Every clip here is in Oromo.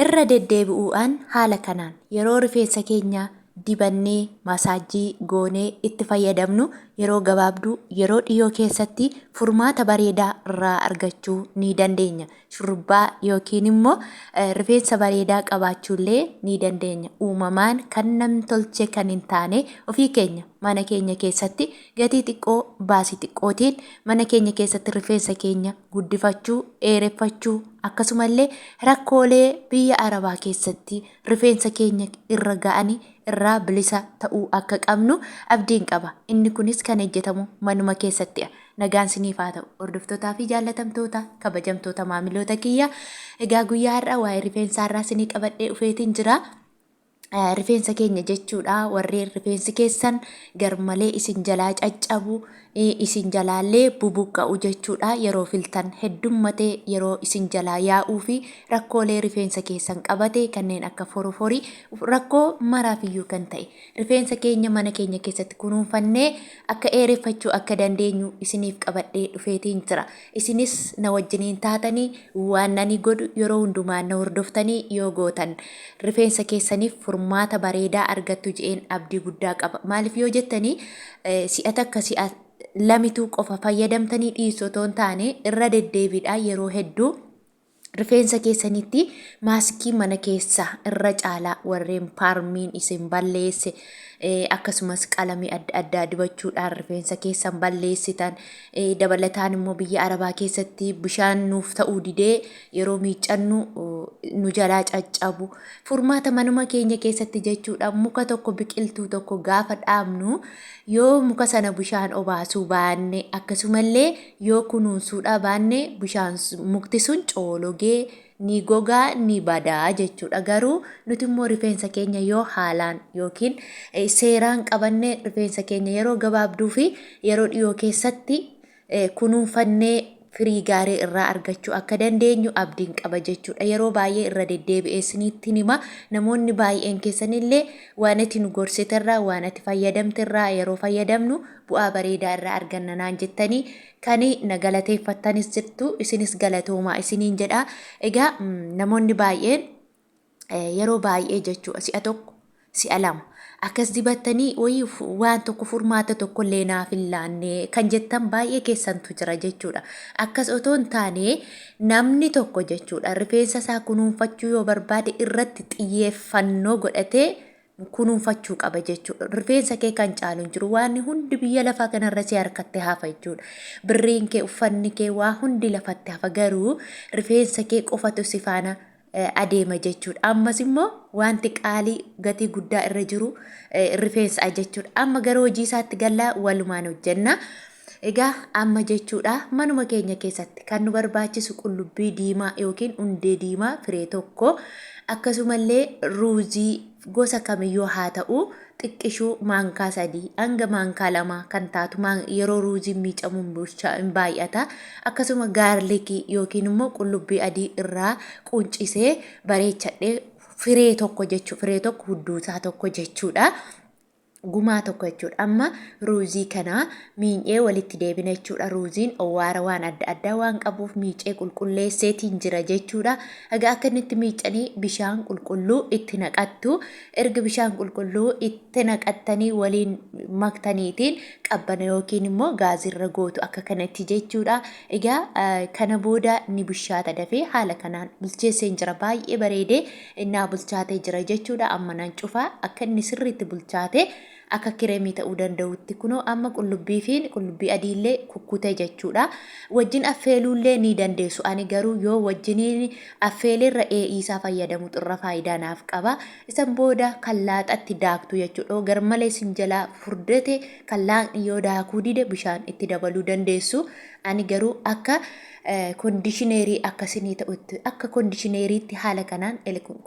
Irra deddeebi'uu'aan haala kanaan yeroo rifeensa keenya dibannee, masaajjii, goonee itti fayyadamnu yeroo gabaabduu, yeroo dhiyoo keessatti furmaata bareedaa irraa argachuu ni dandeenya. Shurrubbaa yookiin immoo eh, rifeensa bareedaa qabaachuullee ni dandeenya. Uumamaan kan nam tolchee kan hin taane ofii keenya mana keenya keessatti Gatii xiqqoo, baasii xiqqootiin mana keenya keessatti rifeensa keenya guddifachuu, dheereffachuu akkasumallee rakkoolee biyya Arabaa keessatti rifeensa keenya irra ga'ani irraa bilisa ta'uu akka qabnu abdiin qaba. Inni kunis kan hejjetamu manuma keessatti'a. Nagaan siniif haa ta'u. Hordoftotaa fi jaallatamtoota, kabajamtoota maamiloota kiyya. Egaa guyyaa har'a waa'ee rifeensaa irraa sinii qabadhee dhufeetiin jira. rifeensa keenya jechuudha warreen rifeensi keessan garmalee isin jalaa caccabu isin jalaallee bubuqqa'u jechuudha yeroo filtan heddummatee yeroo isin jalaa yaa'uu fi rakkoolee rifeensa keessan qabate kanneen akka foroforii rakkoo maraafiyyuu kan ta'e rifeensa keenya mana keenya keessatti kunuunfannee akka eereffachuu akka dandeenyu isiniif qabadhee dhufeetiin jira Isinis na wajjiniin taatanii waan ani godhu yeroo hundumaa na hordoftanii yoo gootan rifeensa keessaniif furmaata bareedaa argattu je'een abdii guddaa qaba. Maaliif yoo jettanii si'a takka si'a lamituu qofa fayyadamtanii dhiisu otoo hin taane irra deddeebiidhaan yeroo hedduu Rifeensa keessanitti maaskii mana keessaa irra caalaa warreen paarmiin isin balleesse akkasumas qalamii adda addaa dibachuudhaan rifeensa keessan balleessitan dabalataan immoo biyya arabaa keessatti bishaan nuuf ta'uu didee yeroo miiccannu nu jalaa caccabu furmaata manuma keenya keessatti jechuudha muka tokko biqiltuu tokko gaafa dhaabnu yoo muka sana bishaan obaasuu baanne akkasumallee Yoo kunuunsuu dhabaanne bishaan mukti sun coologee ni gogaa ni badaa jechuudha. Garuu nuti immoo rifeensa keenya yoo haalaan yookiin seeraan qabanne rifeensa keenya yeroo gabaabduu fi yeroo dhiyoo keessatti kunuunfannee firii gaarii irraa argachuu akka dandeenyu abdiin qaba jechuudha. Yeroo baay'ee irra deddeebi'ee isinitti hima. Namoonni baay'een keessanillee waan ati nu gorsiterraa waan ati fayyadamterraa yeroo fayyadamnu bu'aa bareedaa irraa arganna naan jettanii kan na galateeffattanis jirtu isinis galatoomaa isiniin jedha. Egaa namoonni baay'een yeroo baay'ee jechuudha si'a tokko si'a lama akkas dibattanii wayii waan tokko furmaata tokko illee naaf hin laanne kan jettan baay'ee keessantu jira jechuudha. Akkas otoo hin taane namni tokko jechuudha rifeensa isaa kunuunfachuu yoo barbaade irratti xiyyeeffannoo godhatee kunuunfachuu qaba jechuudha. Rifeensa kee kan caalu hin jiru. Waan hundi biyya lafaa kanarra si harkatti hafa jechuudha. Birriin kee, uffanni kee, waa hundi lafatti hafa garuu rifeensa kee qofatu si faana eh, adeema jechuudha. Ammas immoo wanti qaalii gatii guddaa irra jiru eh, rifeensa jechuudha. Amma gara hojii isaatti gallaa walumaan hojjenna. Egaa amma jechuudha manuma keenya keessatti kan nu barbaachisu qullubbii diimaa yookiin hundee diimaa firee tokko akkasumallee ruuzii gosa kamiyyuu haa ta'u xiqqishuu maankaa sadii hanga maankaa lamaa kan taatu yeroo ruuziin miicamuun bulchaa hin baay'ata akkasuma gaarlikii yookiin immoo qullubbii adii irraa quncisee bareechadhee firee tokko jechuu firee tokko hudduusaa tokko jechuudha. gumaa tokko jechuudha. Amma ruuzii kana miinyee walitti deebina jechuudha. Ruuziin owwaara waan adda addaa waan qabuuf miicee qulqulleesseetiin jira jechuudha. Egaa akka inni itti miicanii bishaan qulqulluu itti naqattu. Erga bishaan qulqulluu itti naqattanii waliin maktaniitiin qabbana yookiin immoo gaazirra gootu akka kanatti jechuudha. Egaa kana booda ni bushaata dafee haala kanaan bilcheesseen jira baay'ee bareedee Innaa bulchaatee jira jechuudha. Amma nan cufaa. Akka inni sirriitti bulchaatee akka kireemii ta'uu danda'utti kunoo amma qullubbii fi qullubbii adiillee kukkutee jechuudha. Wajjin affeeluullee ni dandeessu. Ani garuu yoo wajjiniin affeeleerra ee'iisaa fayyadamutu irra faayidaa naaf qaba. Isan booda kan laaxatti daaktu jechuudha. Yoo garmalee sin jalaa furdate kan laaqni yoo daakuu dide bishaan itti dabaluu dandeessu. Ani garuu akka kondishineerii akka sinii ta'utti akka kondishineeriitti haala kanaan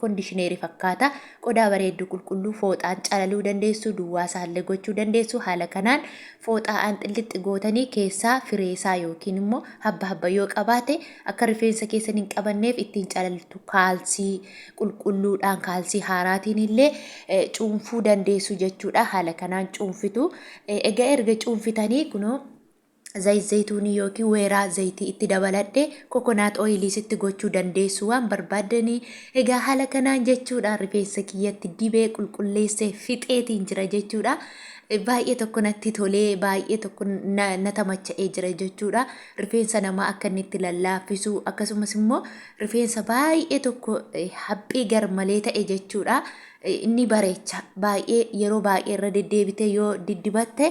kondishineerii fakkaata qodaa bareedduu qulqulluu fooxaan calaluu dandeessu duwwaa isaallee gochuu dandeessu haala kanaan fooxaa aanxillixxi gootanii keessaa fireesaa yookiin immoo habba habba yoo qabaate akka rifeensa keessan hin qabanneef ittiin calaltu kaalsii qulqulluudhaan kaalsii haaraatiin illee cuunfuu dandeessu jechuudha haala kanaan cuunfitu egaa erga cuunfitanii kunoo Zayit zayituunii yookiin weeraa zayitii itti dabaladhee kokonaat ooyiliis itti gochuu dandeessu waan barbaaddanii egaa haala kanaan jechuudha rifeensa kiyyatti dibee qulqulleessee fixeetiin jira jechuudha. Baay'ee tokko natti tolee baay'ee tokko na na tamacha'ee jira jechuudha. Rifeensa namaa akka inni itti lallaaffisu akkasumas immoo rifeensa baay'ee tokko eh, haphii garmalee ta'e jechuudha. Eh, Inni bareecha baay'ee yeroo baay'ee irra deddeebitee yoo diddibatte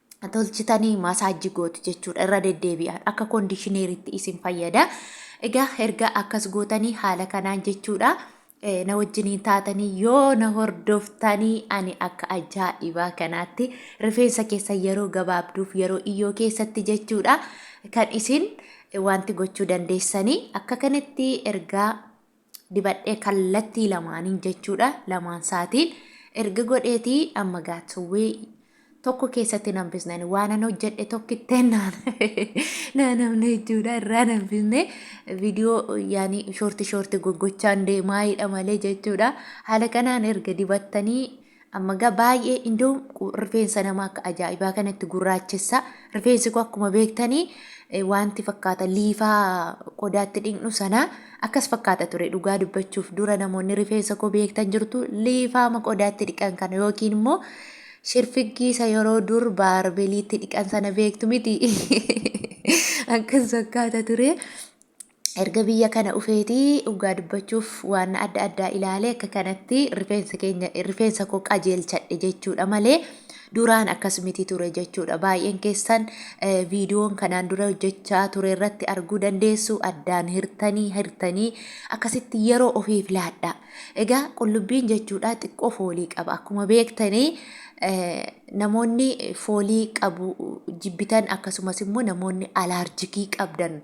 tolchitanii maasaajji gootu jechuudha irra deddeebi'aan akka koondishineeritti isin fayyada. Egaa erga akkas gootanii haala kanaan jechuudha eh, na wajjiniin taatanii yoo na hordoftanii ani akka ajaa'ibaa kanaatti rifeensa keessa yeroo gabaabduuf yeroo iyyoo keessatti jechuudha kan isin eh, wanti gochuu dandeessanii akka kanatti ergaa dibadhee kallattii lamaaniin jechuudha lamaan isaatiin erga godheetii amma gaatsuwwee tokko keessatti nan bisneen waanan hojjedhe tokkittee naan naanamne jechuudha irraa nan bisne viidiyoo yaani shoorti shoorti goggochaan deemaayidha malee jechuudha haala kanaan erga dibattanii Amma gaa baay'ee indoo rifeensa nama akka ajaa'ibaa kanatti gurraachessa. Rifeensi koo akkuma beektanii eh, wanti fakkaata liifaa qodaatti dhiqnu sana akkas fakkaata ture dhugaa dubbachuuf dura namoonni rifeensa koo beektan jirtu liifaama qodaatti dhiqan kana yookiin immoo shirfiggii isa yeroo dur baarbeliitti dhiqan sana beektu miti akkas fakkaata ture. Erga biyya kana dhufeeti dhugaa dubbachuuf waan adda addaa ilaalee akka kanatti rifeensa keenya rifeensa koo qajeelchadhe jechuudha malee duraan akkas miti ture jechuudha. Baay'een keessan eh, viidiyoon kanaan dura hojjechaa ture irratti arguu dandeessu addaan hirtanii hirtanii akkasitti yeroo ofiif laadhaa. Egaa qullubbiin jechuudha xiqqoo foolii qaba. Akkuma beektanii namoonni foolii qabu jibbitan akkasumas immoo namoonni alaarjikii qabdan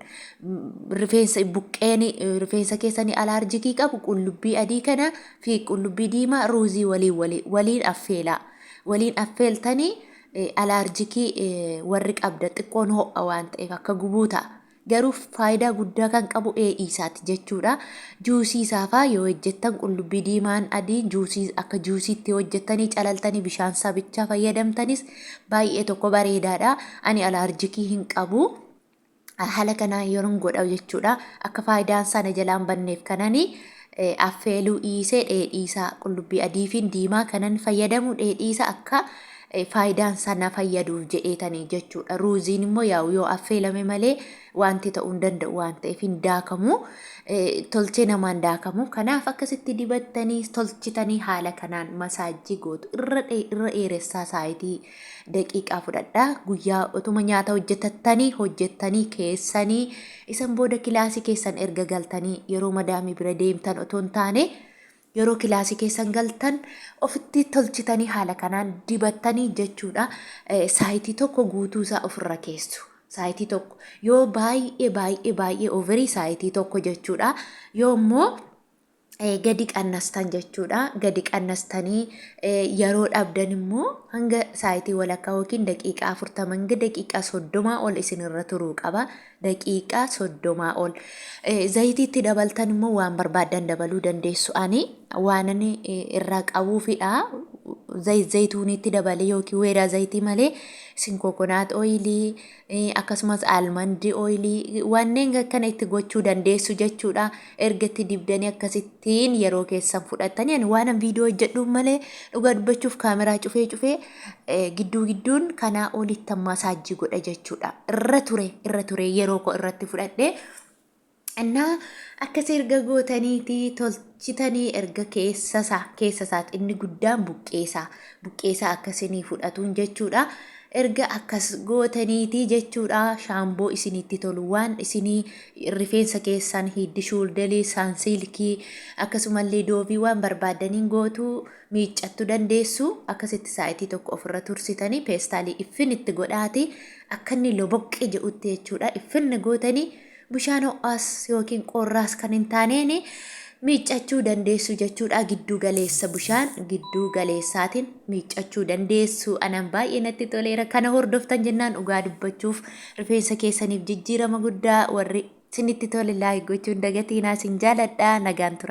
rifeensa buqqeen rifeensa keessanii alaarjikii qabu qullubbii adii kana fi qullubbii diimaa ruuzii waliin waliin waliin affeelaa waliin affeeltanii alaarjikii warri qabda xiqqoon ho'a waan ta'eef akka gubuu ta'a. Garuu faayidaa guddaa kan qabu ee'ii isaati jechuudha. Juusii isaa faa yoo hojjettan qullubbii diimaan adiin juusii akka juusiitti yoo hojjettanii calaltanii bishaan isaa bichaa fayyadamtanis baay'ee tokko bareedaadha. Ani alaarjikii hin qabu. Haala kanaan yeroon godha jechuudha. Akka faayidaan sana jalaan banneef kanani affeeluu dhiisee dheedhiisaa qullubbii adiifiin diimaa kanan fayyadamu dheedhiisa akka faayidaan isaa na fayyaduuf jedheetanii jechuudha. Ruuziin immoo yaa'u yoo affeelame malee wanti ta'uu hin danda'u waan ta'eef hin daakamu. Tolchee namaan daakamu. Kanaaf akkasitti dibattanii tolchitanii haala kanaan masaajjii gootu. Irra dheeressaa saayitii daqiiqaa fudhadha guyyaa otuma nyaata hojjetattanii hojjettanii keessanii isan booda kilaasii keessan erga galtanii yeroo madaamii bira deemtan otoo hin taane yeroo kilaasii keessan galtan ofitti tolchitanii haala kanaan dibattanii jechuudha saayitii tokko guutuu isaa ofirra keessu. Saayitii tokko yoo baay'ee baay'ee baay'ee ofirii saayitii tokko jechuudha yoo immoo gadi qannastan jechuudha. Gadi qannastanii yeroo dhabdan immoo hanga saayitii walakkaa yookiin daqiiqaa afurtama hanga daqiiqaa soddomaa ol isinirra turuu qaba. Daqiiqaa soddomaa ol. Zayitiitti dabaltan immoo waan barbaaddan dabaluu dandeessu. Ani waanan irraa qabuufidha. Zayit zayituuniitti dabalee yookiin weedaa zayitii malee isin kokonaat ooyilii akkasumas almandii ooyilii wanneen akkana itti gochuu dandeessu jechuudha. Erga itti dibdanii akkasittiin yeroo keessan fudhattanii ani waanan viidiyoo hojjedhuuf malee dhugaa dubbachuuf kaameraa cufee cufee gidduu gidduun kanaa olitti masaajii godha jechuudha. Irra ture irra ture yeroo koo irratti fudhadhee Innaa akkasii erga gootaniiti tolchitanii erga keessasaa keessasaat inni guddaan buqqeesaa buqqeesaa akkasinii fudhatuun jechuudha. Erga akkas gootaniiti jechuudha shaamboo isinitti tolu waan isinii rifeensa keessan hiddi shuuldelii saansiilkii akkasumallee doovii waan barbaadaniin gootu miiccattu dandeessu akkasitti saayitii tokko ofirra tursitanii peestaalii iffin itti godhaati akka inni loboqqee jedhutti jechuudha iffinni gootanii Bishaan ho'aas yookiin qorraas kan hin taaneen miiccachuu dandeessu jechuudha. Gidduu galeessa bishaan gidduu galeessaatiin miiccachuu dandeessu. Anaan baay'ee natti toleera. Kana hordoftan jennaan dhugaa dubbachuuf rifeensa keessaniif jijjiirama guddaa warri isinitti tole laayik gochuun dagatiinaa isin jaaladha. Nagaan tura.